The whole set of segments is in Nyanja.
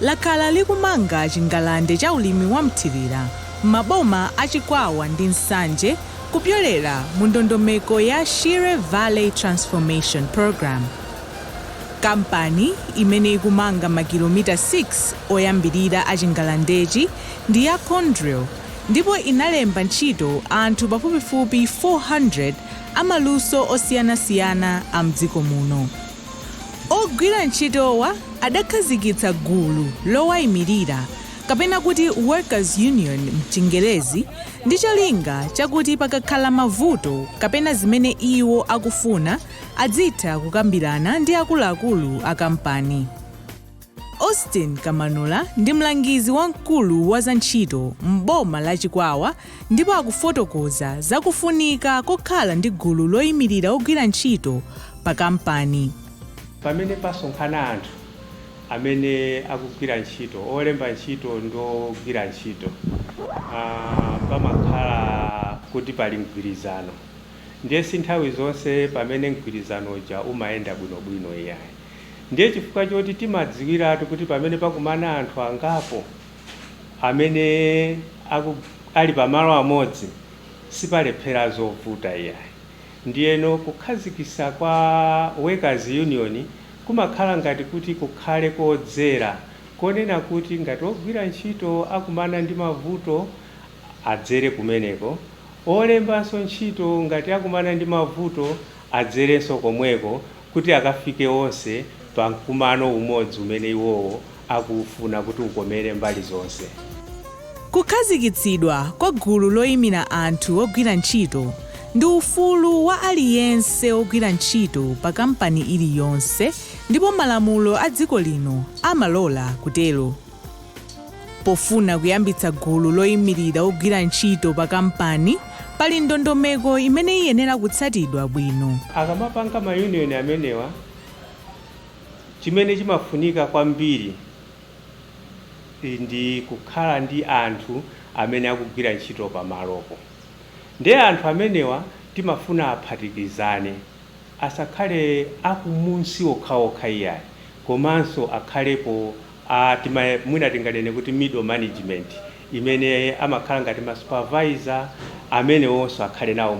lakhala likumanga chingalande cha ulimi wa mthirira m'maboma a Chikwawa ndi Nsanje kupyolera mu ndondomeko ya Shire Valley Transformation Programme. Kampani imene ikumanga makilomita 6 oyambirira a chingalandechi ndi ya Conduril ndipo inalemba ntchito anthu pafupifupi 400 amaluso osiyanasiyana a m'dziko muno. Ogwira ntchitowa adakhazikitsa gulu lowaimirira kapena kuti Workers Union m'Chingerezi ndi cholinga chakuti pakakhala mavuto kapena zimene iwo akufuna adzitha kukambirana ndi akuluakulu a kampani. Austin Kamanula ndi mlangizi wamkulu wa zantchito m'boma la Chikwawa ndipo akufotokoza za kufunika kokhala ndi gulu loimirira ogwira ntchito pa kampani. Pamene pasonkhana anthu amene akugwira ntchito, olemba ntchito ndi ogwira ntchito, pamakhala kuti pali mgwirizano ndiye si nthawi zonse pamene mgwirizano uja umayenda bwinobwino iyayi. Ndiye chifukwa choti timadziwiratu kuti pamene pakumana anthu angapo amene aku, ali pamalo amodzi sipalephera zovuta iyayi. Ndiyeno kukhazikitsa kwa workers union kumakhala ngati kuti kukhale kodzera konena kuti ngati ogwira ntchito akumana ndi mavuto adzere kumeneko, olembanso ntchito ngati akumana ndi mavuto adzerenso komweko kuti akafike onse pa mkumano umodzi umene iwowo akuufuna kuti ukomere mbali zonse. Kukhazikitsidwa kwa gulu loimira anthu ogwira ntchito ndi ufulu wa aliyense wogwira ntchito pa kampani iliyonse ndipo malamulo a dziko lino amalola kutero. Pofuna kuyambitsa gulu loimirira ogwira ntchito pa kampani, pali ndondomeko imene iyenera kutsatidwa bwino. Akamapanga ma union amenewa, chimene chimafunika kwambiri ndi kukhala ndi anthu amene akugwira ntchito pamalopo. Ndiye anthu amenewa timafuna aphatikizane, asakhale akumunsi okhaokha iyayi, komanso akhalepo a tima mwina tinganene kuti middle management imene amakhala ngati ma supervisor amenewonso akhale nawo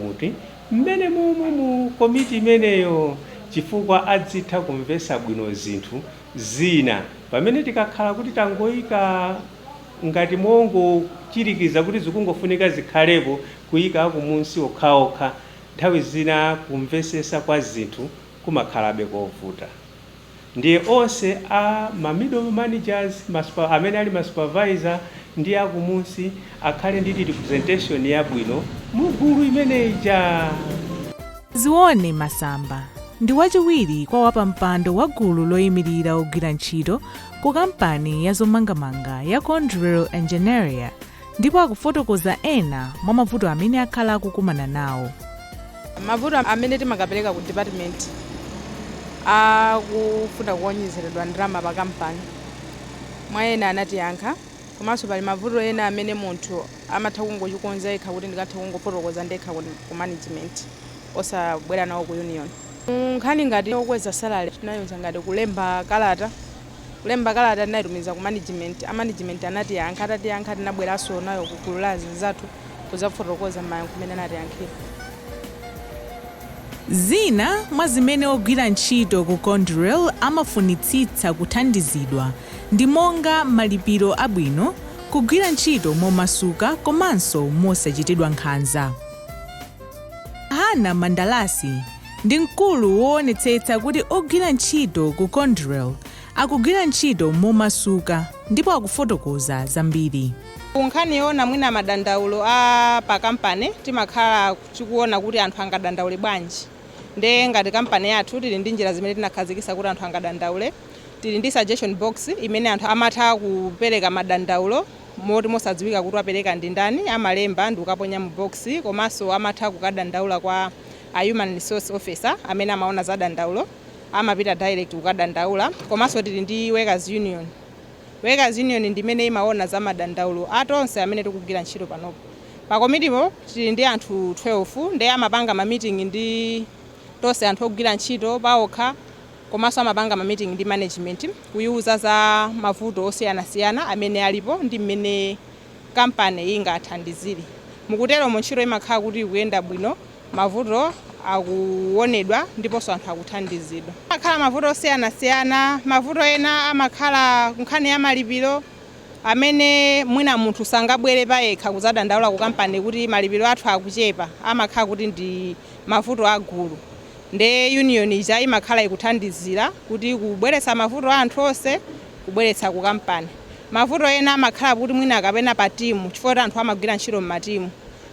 mommomo mu komiti imeneyo chifukwa adzitha kumvetsa bwino zinthu zina pamene tikakhala kuti tangoika ngati mongochirikiza kuti zikungofunika zikhalepo kuika akumunsi okhaokha nthawi zina kumvetsetsa kwa zinthu kumakhalabeko kovuta. Ndiye onse a ma middle managers, amene ali ma supervisor ndi akumunsi akhale ndi representation yabwino mu gulu imene ija. Zione Masamba ndi wachiwiri kwa wapampando wa gulu loyimirira ogwira ntchito ku kampani ya zomangamanga ya Conduril Engenharia, ndipo akufotokoza ena mwa mavuto amene akhala akukumana nawo mavuto amene timakapereka ku department akufuna kuonjezeredwa ndalama pa kampani mwa ena anatiyankha komanso pali mavuto ena amene munthu amatha kungochikonza yekha kuti ndikatha kungofotokoza ndekha ku ku management osabwera nawo ku union nkhani ngati yokweza salary tinayiuza ngati kulemba kalata Kulemba kalata tinaitumiza ku management, a management anatiyankha, atatiyankha tinabweranso nayo ku gulu la azinzathu kuzafotokoza mayankho mene anatiyankhira. Zina mwa zimene ogwira ntchito ku Conduril amafunitsitsa kuthandizidwa ndi monga malipiro abwino, kugwira ntchito momasuka komanso mosachitidwa nkhanza. Hannah Mandalasi. ndi mkulu woonetsetsa kuti ogwira ntchito ku Conduril akugwira ntchito momasuka ndipo akufotokoza zambiri. Ku nkhani yoona mwina madandaulo a pa kampani timakhala tikuona kuti anthu angadandaule bwanji nde ngati kampani yathu tili ndi njira zimene tinakhazikitsa kuti anthu angadandaule. Tili ndi suggestion box imene anthu amatha kupereka madandaulo moti mosadziwika kuti wapereka ndi ndani amalemba ndikukaponya mu box komanso amatha kukadandaula kwa A human resource officer amene amaona za dandaulo amapita direct kukadandaula komanso tili ndi workers union. Workers union ndi imene imaona za madandaulo a tonse amene tikugwira ntchito panopo. Pa komitipo tili ndi anthu 12 nde amapanga ma meeting ndi tonse anthu ogwira ntchito paokha komanso amapanga ma meeting ndi management kuiuza za mavuto osiyanasiyana amene alipo ndi mmene kampani ingathandizire. Mukuteromo ntchito imakhala kuti ikuyenda bwino, mavuto akuwonedwa ndiponso anthu akuthandizidwa. Pamakhala mavuto osiyanasiyana, mavuto ena amakhala kunkhani ya malipiro amene mwina munthu sangabwere payekha kudzadandaula kukampani kuti malipiro athu akuchepa, amakhala kuti ndi mavuto a gulu ndiye union ija imakhala ikuthandizira kuti kubweretsa mavuto a anthu onse kubweretsa ku kampani. Mavuto ena amakhala kuti mwina kapena pa timu chifukwa kuti anthu amagwira ntchito m'matimu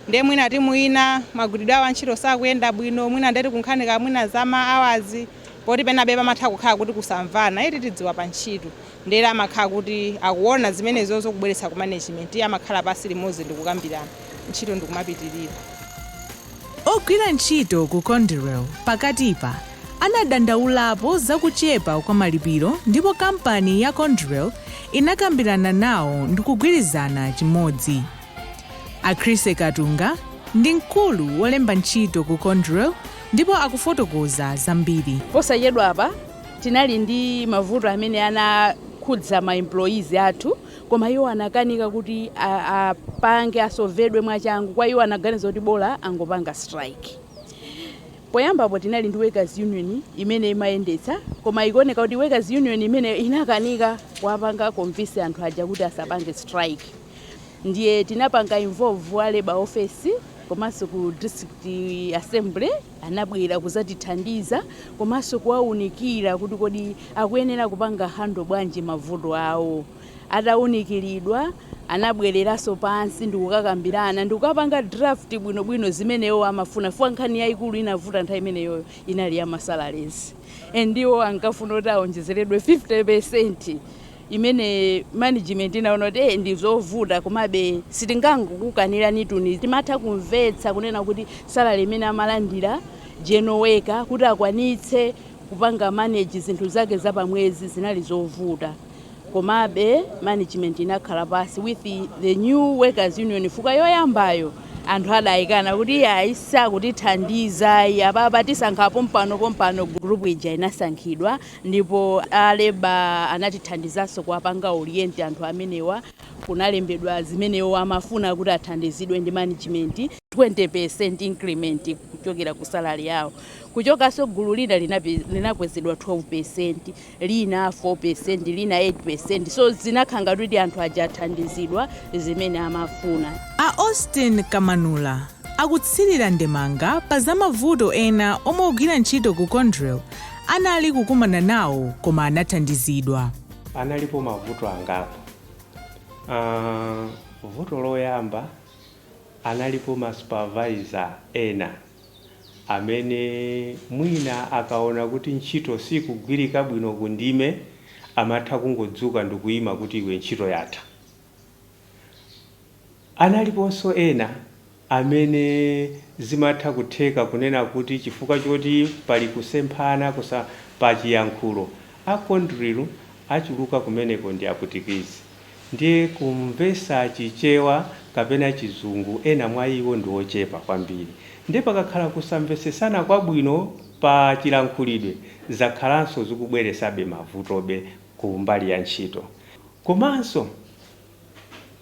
nde mwina timu ina magwiridwe awo a ntchito sakuyenda bwino mwina ndeti kunkhani kaya mwina za ma hours poti penabe pamatha kukhala kuti kusamvana eti tidziwa pa ntchito ndere amakhala kuti akuona zimenezozo kubweretsa ku management amakhala pansi limodzi ndikukambirana ntchito ndikumapitirira. Ogwira ntchito ku Conduril pakatipa anadandaulapo za kuchepa kwa malipiro ndipo kampani ya Conduril inakambirana nawo ndikugwirizana chimodzi. A Chris Katunga ndi mkulu wolemba ntchito ku Conduril ndipo akufotokoza zambiri. Posachedwapa tinali ndi mavuto amene anakhudza ma employees athu. Koma iwo anakanika kuti a, apange asolvedwe mwachangu kwa iwo anaganiza kuti bola angopanga strike. Poyambapo tinali ndi workers union imene imayendetsa koma ikuoneka kuti workers union imene inakanika kuwapanga convince anthu aja kuti asapange strike. Ndiye tinapanga involve a labor office komanso ku district assembly. Anabwera kuzatithandiza komanso kuwaunikira kuti kodi akuyenera kupanga handle bwanji mavuto awo. Atawunikiridwa, anabwereranso pansi ndikukakambirana ndikukapanga draft bwino bwino zimene iwowo amafuna chifukwa nkhani yaikulu inavuta nthawi imeneyoyo inali ya ma salaries and iwo ankafuna kuti awonjezeredwe 50% imene management inaona kuti eh, ndi zovuta komabe sitingangokukaniranitu timatha kumvetsa kunena kuti salary imene amalandira general worker kuti akwanitse kupanga manage zinthu zake za pamwezi zinali zovuta komabe management inakhala pasi with the, the new workers union fukwa yoyambayo anthu adayikana kuti iyayi sakutithandiza ayi apapa tisankha pompano pompano group ija inasankhidwa Ndipo a Labor anatithandizanso kuwapanga orient anthu amenewa, kunalembedwa zimene iwowo amafuna kuti athandizidwe ndi management, 20% increment kuchokera ku salary yawo. Kuchokanso gulu lina linakwezedwa 12%, lina 4%, lina 8%, so zinakhala ngati kuti anthu aja athandizidwa zimene amafuna. A Austin Kamanula akutsirira ndemanga pa za mavuto ena omwe ogwira ntchito ku Conduril anali kukumana nawo koma anathandizidwa. Analipo mavuto angapo. Aaa vuto loyamba analipo ma supervisor ena amene mwina akaona kuti ntchito sikugwirika bwino ku ndime amatha kungodzuka ndikuyima kuti iwe ntchito yatha. Analiponso ena amene zimatha kutheka kunena kuti chifukwa choti pali kusemphana kusa pa chiyankhulo, a Conduril achuluka kumeneko ndi apwitikizi, ndiye kumvesa chichewa kapena chizungu ena mwa iwo ndi ochepa kwambiri, ndiye pakakhala kusamvesesana kwabwino pa chilankhulidwe zakhalanso zikubweresabe mavutobe ku mbali ya ntchito. Komanso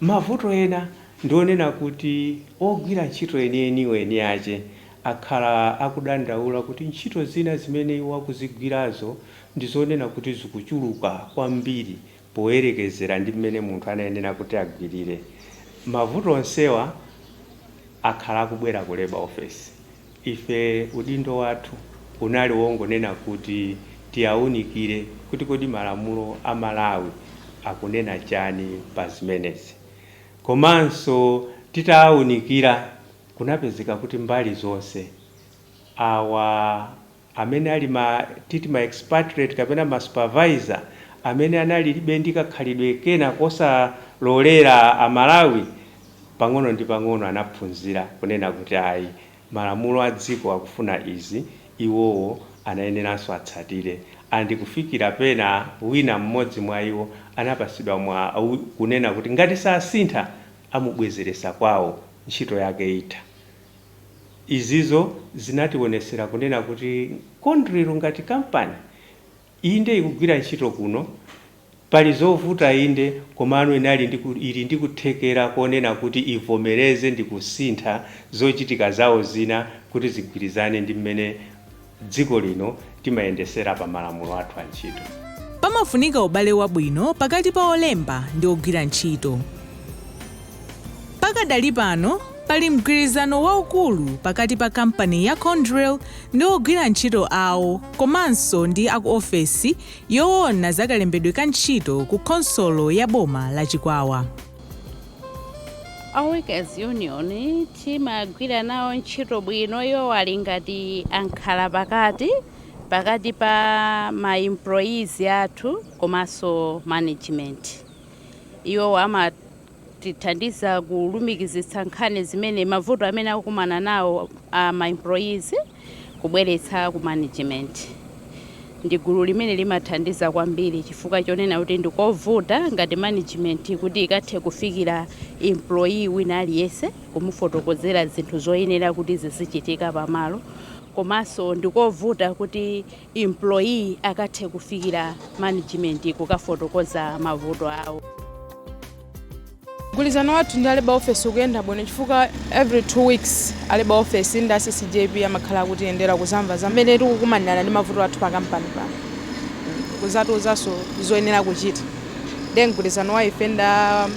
mavuto ena ndi onena kuti ogwira ntchito enieniwo eni ache akhala akudandaula kuti ntchito zina zimene iwo akuzigwirazo ndi zonena kuti zikuchuluka kwambiri poyerekezera ndi mmene munthu anayenera kuti agwirire. Mavuto onsewa akhala akubwera ku Labour Office. Ife udindo wathu unali wongonena kuti tiawunikire kuti kodi malamulo a Malawi akunena chani pa zimenezi. Komanso titaawunikira kunapezeka kuti mbali zonse awa. amene ali ma titi ma expatriate kapena ma supervisor amene analilibe ndi kakhalidwe kena kosalolera Amalawi, pang'ono ndi pang'ono anaphunzira kunena kuti ayi malamulo a dziko akufuna izi iwowo anayeneranso atsatire and kufikira pena wina mmodzi mwa iwo anapatsidwa mwa, wi, kunena kuti ngati sasintha amubwezeretsa kwawo ntchito yake itha. izizo zinationesera kunena kuti Conduril ngati kampani inde ikugwira ntchito kuno pali zovuta inde komano inali ndi ili ndi kuthekera konena kuti ivomereze ndikusintha zochitika zawo zina kuti zigwirizane ndi mmene dziko lino timayendesera pa malamulo athu a ntchito. Pamafunika ubale wabwino pakati pa olemba ndi ogwira ntchito. Pakadali pano pali mgwirizano waukulu pakati pa kampani ya Conduril ndi ogwira ntchito awo komanso ndi aku ofesi yowona za kalembedwe ka ntchito ku khonsolo ya boma la Chikwawa. A workers union timagwira nawo ntchito bwino, iwowo ali ngati ankhalapakati, pakati pa ma employees athu komanso management. Iwowo amatithandiza kulumikizitsa nkhani zimene, mavuto amene akukumana nawo ma employees. kubweretsa ku management. Ndi gulu limene limathandiza kwambiri chifukwa chonena kuti ndikovuta ngati management kuti ikathe kufikira employee wina aliyense kumufotokozera zinthu zoyenera kuti zizichitika pamalo komanso ndikovuta kuti employee akathe kufikira management kukafotokoza mavuto awo. Mgwilizano wathu ndi a Labour office ukuyenda bwino chifukwa every two weeks a Labour office ndi a CCJP amakhala akutiyendera kuzamva mmene tikukumanirana ndi mavuto athu pa company pano kuzatiuzaso zoyenera kuchita ndiye mgwilizano wa ife ndi a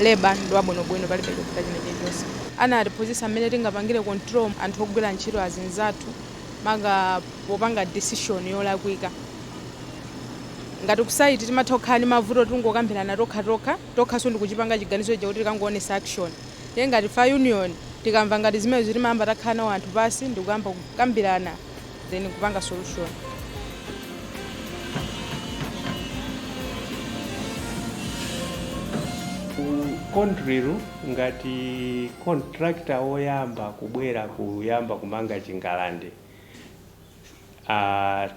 Labour ndi wabwinobwino palibe chovuta china chilichonse. Anatiphunzisa mmene tingapangile control anthu ogwila ntchito azinzathu maka popanga decision yolakwika ngati ku site timatha kukhala ndi mavuto tingokambirana tokhatokha. tokhaso ndikuchipanga chiganizo chakuti tikangoonesa action nde ngati ife a union tikamva ngati zimenezo timayamba takhala nawo anthu pansi ndikuyamba kukambirana then nkupanga solution. Conduril ngati contractor oyamba kubwera kuyamba kumanga chingalandechi,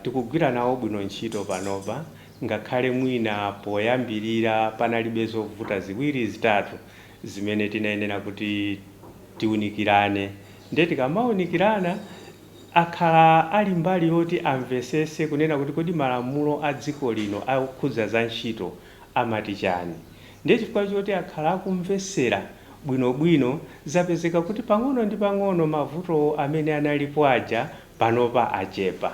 Tikugwira nawo bwino ntchito panopa ngakhale mwina poyambirira panalibe zovuta ziwiri zitatu zimene tinayenera kuti tiunikirane ndiye tikamaunikirana akhala ali mbali yoti amvesese kunena kuti kodi malamulo a dziko lino okhudza za ntchito amati chani? Ndiye chifukwa choti akhala akumvetsera bwinobwino zapezeka kuti pang'ono ndi pang'ono mavuto amene analipo aja panopa achepa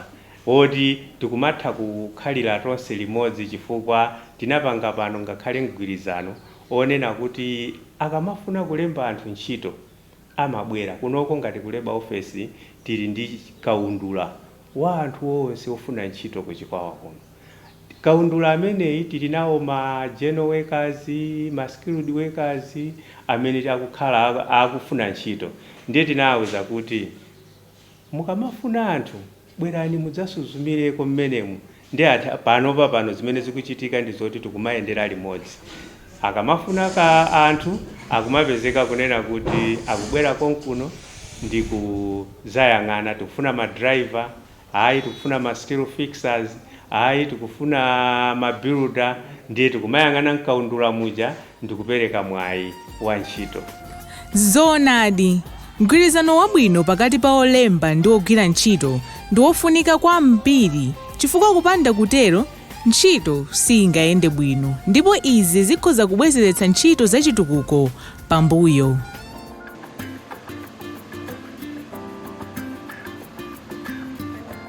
oti tikumatha kukhalira tonse limodzi chifukwa tinapanga pano ngakhale mgwirizano onena kuti akamafuna kulemba anthu ntchito amabwera kunoko ngati ku Labour office tili ndi kaundula wa anthu onse ofuna ntchito ku Chikwawa kuno. Kaundula ameneyi tili nawo ma general workers, ma skilled workers amene akukhala akufuna ntchito ndiye tinawauza kuti mukamafuna anthu bwerani mudzasuzumireko m'menemu Nde panopa pano zimene zikuchitika ndi zoti tikumayendera limodzi. Akamafuna ka anthu akumapezeka kunena kuti akubwera konkuno ndi kuzayang'ana tikufuna ma driver, ayi tikufuna ma steel fixers, ayi tikufuna ma builder ndiye tikumayang'ana mkaundula muja. ndi kupereka mwayi wa ntchito. Zoonadi, mgwirizano wabwino pakati pa olemba ndi ogwira ntchito ndi wofunika kwambiri chifukwa kupanda kutero, ntchito siingayende bwino ndipo izi zikhoza kubwezeretsa ntchito za chitukuko pambuyo.